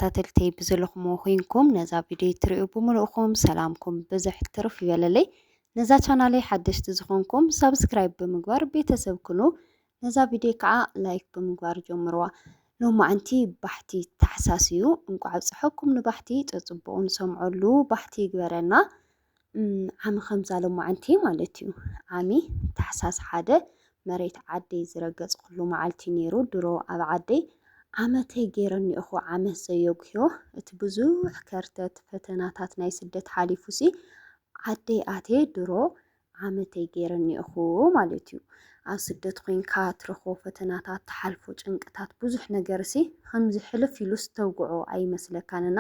ተኸታተልተይ ብዝለኹሞ ኮይንኩም ነዛ ቪድዮ ትሪኡ ብምልእኹም ሰላምኩም ብዝሕ ትርፍ ይበለለይ። ነዛ ቻናለይ ሓደሽቲ ዝኾንኩም ሳብስክራይብ ብምግባር ቤተሰብ ኩኑ። ነዛ ቪድዮ ከዓ ላይክ ብምግባር ጀምርዋ። ሎማዕንቲ ባሕቲ ታሕሳስ እዩ። እንቋዕ ኣብፀሐኩም ንባሕቲ ፀፅቡቑ ንሰምዐሉ ባሕቲ ይግበረና። ዓሚ ከምዛ ሎማዓንቲ ማለት እዩ ዓሚ ታሕሳስ ሓደ መሬት ዓደይ ዝረገፅኩሉ መዓልቲ ነይሩ ድሮ ኣብ ዓደይ ዓመተይ ገይረኒ እኹ ዓመት ዘየጉዮ እቲ ብዙሕ ከርተት ፈተናታት ናይ ስደት ሓሊፉሲ ዓደይ ኣቴ ድሮ ዓመተይ ገይረኒ እኹ ማለት እዩ ኣብ ስደት ኮይንካ ትረኽቦ ፈተናታት ትሓልፎ ጭንቅታት ብዙሕ ነገርሲ ከምዚ ሕልፍ ኢሉስ ተውግዖ ኣይመስለካን እና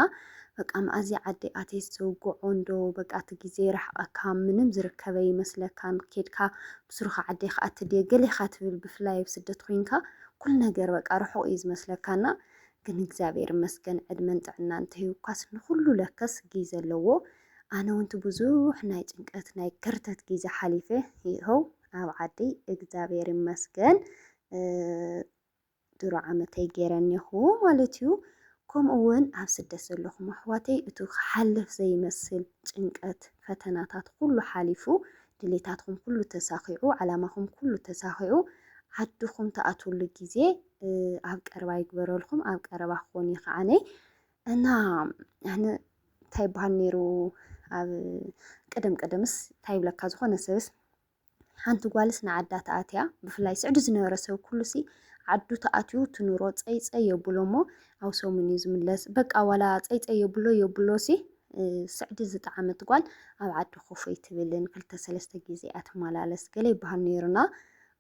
በቃ መኣዚ ዓዲ ኣትየስ ዝውግዖ እንዶ በቃ እቲ ግዜ ይርሕቐካ ምንም ዝርከበ ይመስለካን ኬድካ ብስሩኻ ዓደይ ከዓ ትድየ ገሌኻ ትብል ብፍላይ ኣብ ስደት ኮይንካ ኩሉ ነገር በቃ ርሑቕ እዩ ዝመስለካና ግን እግዚኣብሔር ይመስገን ዕድመን ጥዕና እንተሂብኳስ ንኹሉ ለከስ ግዜ ኣለዎ ኣነ ውንቲ ብዙሕ ናይ ጭንቀት ናይ ከርተት ግዜ ሓሊፈ ይኸው ኣብ ዓደይ እግዛብሄር ይመስገን ድሮ ዓመተይ ገይረ እኔኹ ማለት እዩ። ከምኡ እውን ኣብ ስደት ዘለኹም ኣሕዋተይ እቱ ክሓልፍ ዘይመስል ጭንቀት ፈተናታት ኩሉ ሓሊፉ ድሌታትኩም ኩሉ ተሳኺዑ ዓላማኹም ኩሉ ተሳኺዑ ዓድኹም ትኣትውሉ ግዜ ኣብ ቀረባ ይግበረልኩም ኣብ ቀረባ ክኾን እዩ ከዓነይ እና ኣነ እንታይ ይበሃል ነይሩ ኣብ ቅድም ቅድምስ እንታይ ይብለካ ዝኾነ ሰብስ ሓንቲ ጓልስ ንዓዳ ተኣትያ ብፍላይ ስዕዱ ዝነበረ ሰብ ኩሉሲ ዓዱ ተኣትዩ ትኑሮ ፀይፀይ የብሎ እሞ ኣብ ሰሙን እዩ ዝምለስ በቃ ዋላ ፀይፀይ የብሎ የብሎ ሲ ስዕዲ ዝጠዓመት ጓል ኣብ ዓዲ ኮፈይ ትብልን ክልተ ሰለስተ ግዜ ኣትመላለስ ገለ ይበሃል ነይሩና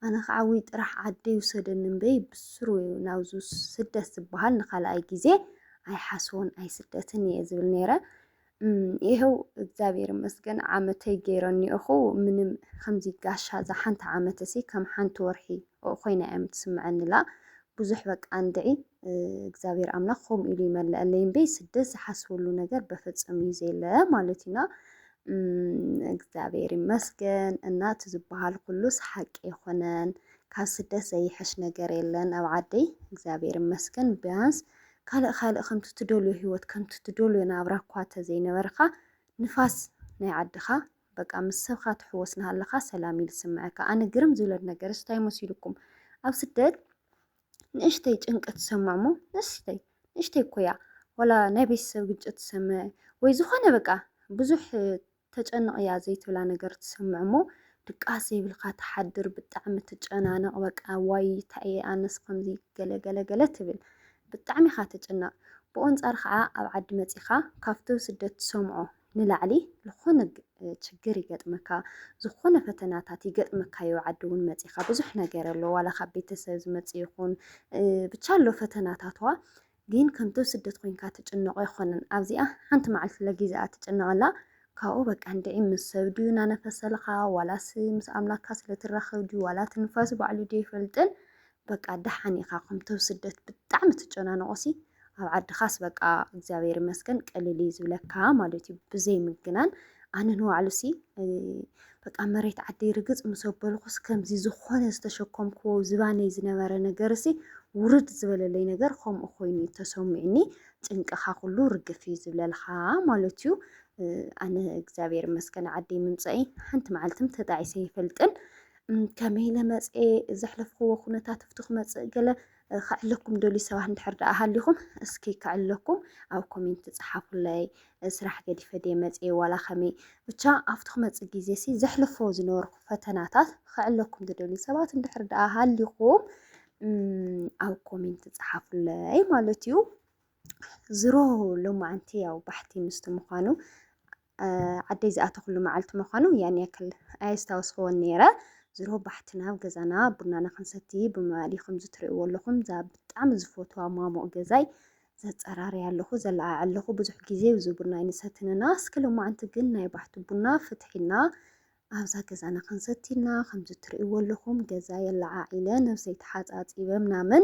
ኣነ ከዓ ውይ ጥራሕ ዓደይ ውሰደኒ እምበይ ብስሩ ናብዙ ስደት ዝበሃል ንካልኣይ ግዜ ኣይሓስቦን ኣይስደትን እየ ዝብል ነይረ። ይኸው እግዚኣብሔር ይመስገን ዓመተይ ገይረኒኦ እኹ ምንም ከምዚ ጋሻ እዛ ሓንቲ ዓመት እሲ ከም ሓንቲ ወርሒ ኮይና እዮም ትስምዐኒላ ብዙሕ በቃ እንድዒ እግዚኣብሔር ኣምላኽ ከምኡ ኢሉ ይመልአለይ እምበይ ስደት ዝሓስበሉ ነገር በፍፅም እዩ ዘየለ ማለት እዩና እግዚኣብሔር ይመስገን እና እቲ ዝበሃል ኩሉስ ሓቂ ኣይኮነን ካብ ስደት ዘይሕሽ ነገር የለን ኣብ ዓደይ እግዚኣብሔር ይመስገን ቢያንስ ካልእ ካልእ ከምቲ ትደልዮ ህይወት ከምቲ ትደልዮ ናብራ እኳ ተዘይነበርካ ንፋስ ናይ ዓድኻ በቃ ምስ ሰብካ ትሕወስ ናሃለኻ ሰላም እዩ ዝስምዐካ ኣነ ግርም ዝብለኒ ነገርስ እንታይ መሲልኩም ኣብ ስደት ንእሽተይ ጭንቂ ትሰምዖ እሞ ንእሽተይ ንእሽተይ እኮ እያ ዋላ ናይ ቤተሰብ ግጭት ትሰምዕ ወይ ዝኾነ በቃ ብዙሕ ተጨንቕ እያ ዘይትብላ ነገር ትሰምዕ እሞ ድቃስ ዘይብልካ ትሓድር ብጣዕሚ ትጨናነቕ በቃ ዋይ እንታይ እየ ኣነስ ከምዚ ገለገለገለ ትብል ብጣዕሚ ኢኻ ትጭነቕ ብኡ ኣንጻር ከዓ ኣብ ዓዲ መጺኻ ካብቲ ስደት ትሰምዖ ንላዕሊ ልኾነ ችግር ይገጥመካ ዝኾነ ፈተናታት ይገጥመካዮ ኣብ ዓዲ እውን መፂእኻ ብዙሕ ነገር ኣሎ ዋላ ካብ ቤተሰብ ዝመፅእ ይኹን ብቻ ኣሎ ፈተናታትዋ ግን ከምቶ ስደት ኮይንካ ትጭነቆ ኣይኮነን ኣብዚኣ ሓንቲ መዓልቲ ለጊዝኣ ትጭነቐላ ካብኡ በቃ እንድዒ ምስ ሰብ ድዩ እናነፈሰልኻ ዋላስ ምስ ኣምላክካ ስለትራኸብ ድዩ ዋላ ትንፋስ ባዕሉ ድዩ ይፈልጥን በቃ ደሓን ኢኻ ከምቶም ስደት ብጣዕሚ ትጨናነቆሲ ኣብ ዓድኻስ በቃ እግዚኣብሔር ይመስገን ቀሊል እዩ ዝብለካ ማለት እዩ ብዘይ ምግናን ኣነ ንባዕሉሲ በቃ መሬት ዓደይ ርግፅ ምስ ኣበልኩስ ከምዚ ዝኾነ ዝተሸከምክዎ ዝባነይ ዝነበረ ነገርሲ ውርድ ዝበለለይ ነገር ከምኡ ኮይኑ እዩ ተሰሚዑኒ ጭንቅኻ ኩሉ ርግፍ እዩ ዝብለልካ ማለት እዩ ኣነ እግዚኣብሔር ይመስገን ዓደይ ምምፀኢ ሓንቲ መዓልትም ተጣዒሰ ይፈልጥን ከመይ ኢለ መፅኤ ዘሕለፍክዎ ኩነታት ኣብቲ ክመፅእ ገለ ከዕለኩም ደልዩ ሰባት እንድሕር ደኣ ሃሊኹም እስኪ ከዕለኩም ኣብ ኮሜንት ፀሓፉለይ። ስራሕ ገዲፈ ድየ መፅኤ ዋላ ከመይ ብቻ ኣብቲ ክመፅእ ግዜ ሲ ዘሕለፎ ዝነበርኩ ፈተናታት ከዕለኩም ትደልዩ ሰባት እንድሕር ደኣ ሃሊኹም ኣብ ኮሜንት ፀሓፉለይ ማለት እዩ። ዝሮ ሎማዓንቲ ያው ባሕቲ ምስቲ ምዃኑ ዓደይ ዝኣተኹሉ መዓልቲ ምዃኑ ያን ያክል ኣየስታወስክዎን ነይረ። ዝሮ ባሕቲ ናብ ገዛና ቡናና ክንሰቲ ብመባሊ ከምዚ ትርእይዎ ኣለኹም እዛ ብጣዕሚ ዝፈትዋ ማሙቕ ገዛይ ዘፀራርያ ኣለኹ ዘለዓዕ ኣለኹ ብዙሕ ግዜ እዚ ቡና ኣይንሰትንና እስኪ ሎማዓንቲ ግን ናይ ባሕቲ ቡና ፍትሒና ኣብዛ ገዛና ክንሰቲና ከምዚ ትርእይዎ ኣለኹም ገዛ የለዓዒለ ነብሰይ ተሓፃፂበ ምናምን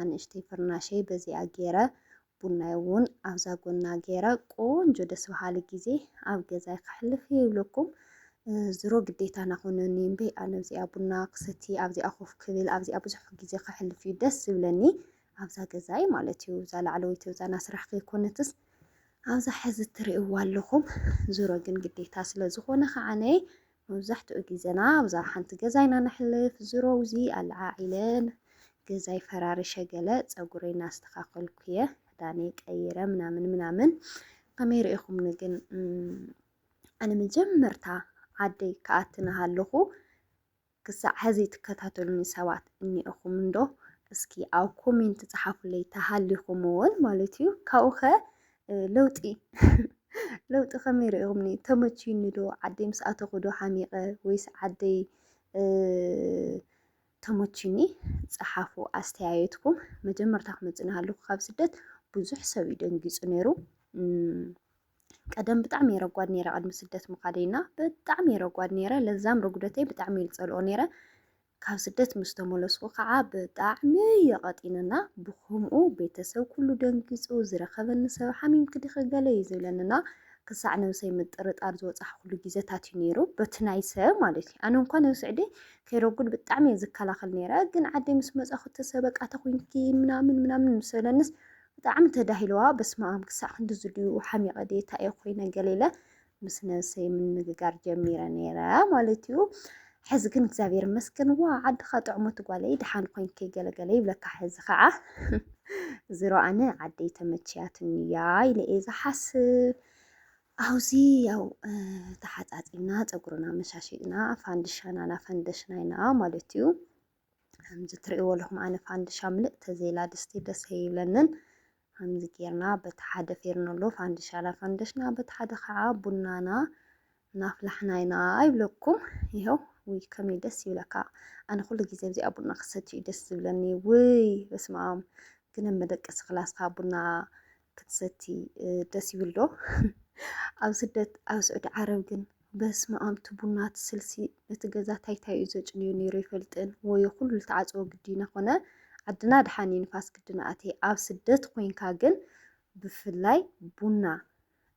ኣንእሽተይ ፍርናሸይ በዚኣ ጌረ ቡናይ ውን ኣብዛ ጎና ጌረ ቆንጆ ደስ በሃሊ ግዜ ኣብ ገዛይ ከሕልፍ እየ ይብለኩም። ዝሮ ግዴታና ኮነኒ እምበይ ኣነ ኣብዚኣ ቡና ክሰቲ ኣብዚኣ ኮፍ ክብል ኣብዚኣ ብዙሕ ግዜ ከሕልፍ እዩ ደስ ዝብለኒ ኣብዛ ገዛይ ማለት እዩ። እዛ ላዕለወይቲ እዛ ናይ ስራሕ ከይኮነትስ ኣብዛ ሕዚ እትርእይዋ ኣለኹም። ዝሮ ግን ግዴታ ስለ ዝኾነ ከዓነ መብዛሕትኡ ግዜና ኣብዛ ሓንቲ ገዛ ኢና ነሕልፍ፣ ዝሮውዚ ኣለዓዒለን ገዛይ ፈራሪሸ ገለ ጸጉረይ እናስተኻኸልኩ'የ፣ ክዳነይ ቀይረ ምናምን ምናምን፣ ከመይ ርኢኹምኒ ግን ኣነ መጀመርታ ዓደይ ክኣቲ ናሃለኹ ክሳዕ ሕዚ ትከታተሉኒ ሰባት እኒኤኹም እንዶ እስኪ ኣብ ኮሜንት ጸሓፉለይ ተሃሊኹም እውን ማለት እዩ ካብኡኸ ለውጢ ለውጢ ከመይ ርኢኹምኒ? ተመችዩኒ ዶ? ዓደይ ምስ ኣተኹ ዶ ሓሚቐ ወይስ ዓደይ ተመችዩኒ? ፀሓፉ ኣስተያየትኩም። መጀመርታ ክመፅእ ናሃለኹ ካብ ስደት ብዙሕ ሰብ እዩ ደንጊፁ ነይሩ። ቀደም ብጣዕሚ እየ ረጓድ ነይረ፣ ቅድሚ ስደት ምኻደይና ብጣዕሚ እየ ረጓድ ነይረ። ለዛም ረጉደተይ ብጣዕሚ እየ ዝፀልኦ ነይረ። ካብ ስደት ምስ ተመለስኩ ከኣ ብጣዕሚ የቐጢንና ብኸምኡ ቤተሰብ ኩሉ ደንጊጹ ዝረኸበኒ ሰብ ሓሚምኪ ዲኺ ገለ እዩ ዝብለንና ክሳዕ ነብሰይ ምጥርጣር ዝበጻሕኩሉ ግዜታት እዩ ነይሩ በቲ ናይ ሰብ ማለት እዩ ኣነ እንኳን ኣብ ስዕዲ ከይረጉድ ብጣዕሚ እየ ዝከላኸል ነይረ ግን ዓደይ ምስ መጻኹ ሰብ በቃ ተኹንኪ ምናምን ምናምን ምስ በለንስ ብጣዕሚ ተዳሂለዋ በስመኣም ክሳዕ ክንድዚ ድዩ ሓሚቐ ድየ እንታይ እየ ኮይነ ገለ ኢለ ምስ ነብሰይ ምንግጋር ጀሚረ ነይረ ማለት እዩ። ሕዚ ግን እግዚኣብሔር ይመስገን ዋ ዓድኻ ጥዕሞት ጓለይ ድሓን ኮንኪ ገለገለ ይብለካ ሕዚ ከዓ ዝሮ ኣነ ዓደይ ተመችያትኒ እያ ኢለ እየ ዝሓስብ ኣብዚ ያው ተሓፃፂና ፀጉርና መሻሽና ፋንድሻና ናፈንደሽና ኢና ማለት እዩ ከምዚ ትርእይዎ ኣለኹም ኣነ ፋንድሻ ምልእ ተዘይላ ድስቲ ደስ ኣይብለንን። ከምዚ ጌርና በቲ ሓደ ፌርነሎ ፋንድሻና ፈንደሽና፣ በቲ ሓደ ከዓ ቡናና እናፍላሕና ኢና ይብለኩም። ይኸው ውይ ከመይ ደስ ይብለካ። ኣነ ኩሉ ግዜ ኣብዚኣ ቡና ክሰትዩ ደስ ዝብለኒ። ውይ በስመ ኣም ግን መደቀሲ ክላስካ ቡና ክትሰቲ ደስ ይብል ዶ ኣብ ስደት ኣብ ስዑዲ ዓረብ ግን በስመ ኣም እቲ ቡና እቲ ስልሲ ነቲ ገዛ ታይታይ እዩ ዘጭንዮ ነይሩ ይፈልጥን ወዮ ኩሉ ተዓፅዎ ግዲና ኮነ ዓድና ድሓን እዩ ንፋስ ግድና ኣቴ ኣብ ስደት ኮንካ ግን ብፍላይ ቡና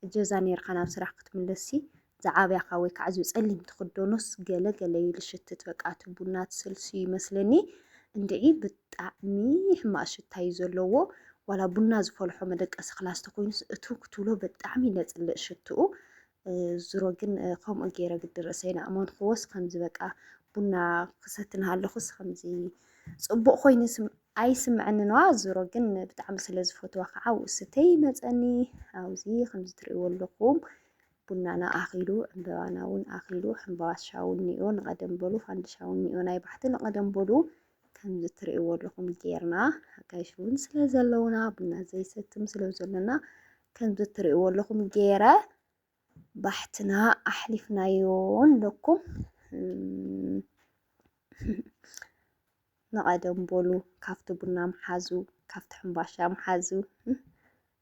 እጀዛ ነርካ ናብ ስራሕ ክትምለሲ ዝዓበኻ ወይ ካዓ እዚ ፀሊም ትኽደኖስ ገለ ገለ እዩ ልሽትት በቃ እቲ ቡና ትሰልስ እዩ ይመስለኒ እንድዒ ብጣዕሚ ሕማቅ ሽታ እዩ ዘለዎ ዋላ ቡና ዝፈልሖ መደቀሲ ክላስ ተኮይኑስ እቱ ክትብሎ ብጣዕሚ ነፅልእ ሽትኡ ዝሮ ግን ከምኡ ገይረ ግዲ ርእሰይ ናእመንክዎስ ከምዚ በቃ ቡና ክሰቲ እናሃለኹስ ከምዚ ፅቡቅ ኮይኑ ኣይስምዐኒ ነዋ ዝሮ ግን ብጣዕሚ ስለ ዝፈትዋ ከዓ ውእስተይ ይመፀኒ ኣብዚ ከምዚ ትርእይዎ ኣለኹም ቡናና ኣኺሉ ዕምበባናውን ኣኺሉ ሕምባሻውን ኒኦ ንቐደም በሉ ፋንድሻውን ኒኦ ናይ ባሕቲ ንቐደም በሉ ከምዚ ትርእይዎ ኣለኹም ጌርና ኣጋይሽ እውን ስለ ዘለውና ቡና ዘይሰትም ስለ ዘሎና ከምዚ ትርእይዎ ኣለኹም ጌረ ባሕትና ኣሕሊፍናዮ ኣለኩም ንቐደም በሉ ካብቲ ቡና ምሓዙ ካብቲ ሕምባሻ ምሓዙ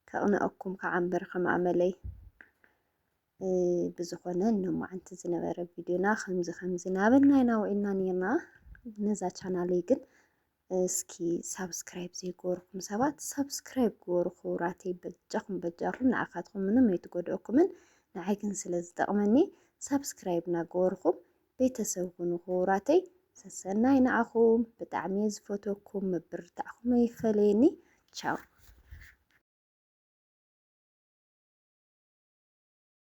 ከቕንኣኩም ከዓ እምበር ከም ኣመለይ ብዝኾነ ሎማዓንቲ ዝነበረ ቪድዮና ከምዚ ከምዚ ናበልና ኢና ውዒልና ነርና ነዛ ቻናለይ ግን እስኪ ሳብስክራይብ ዘይገበርኩም ሰባት ሳብስክራይብ ግበሩ ክቡራተይ በጃኹም በጃኹም ንዓኻትኩም ምንም ኣይትጎድኦኩምን ንዓይ ግን ስለ ዝጠቕመኒ ሳብስክራይብ እናገበርኩም ቤተሰብ ኩኑ ክቡራተይ ሰሰናይ ንዓኹም ብጣዕሚ እየ ዝፈትወኩም ምብርታዕኹም ኣይፈለየኒ ቻው።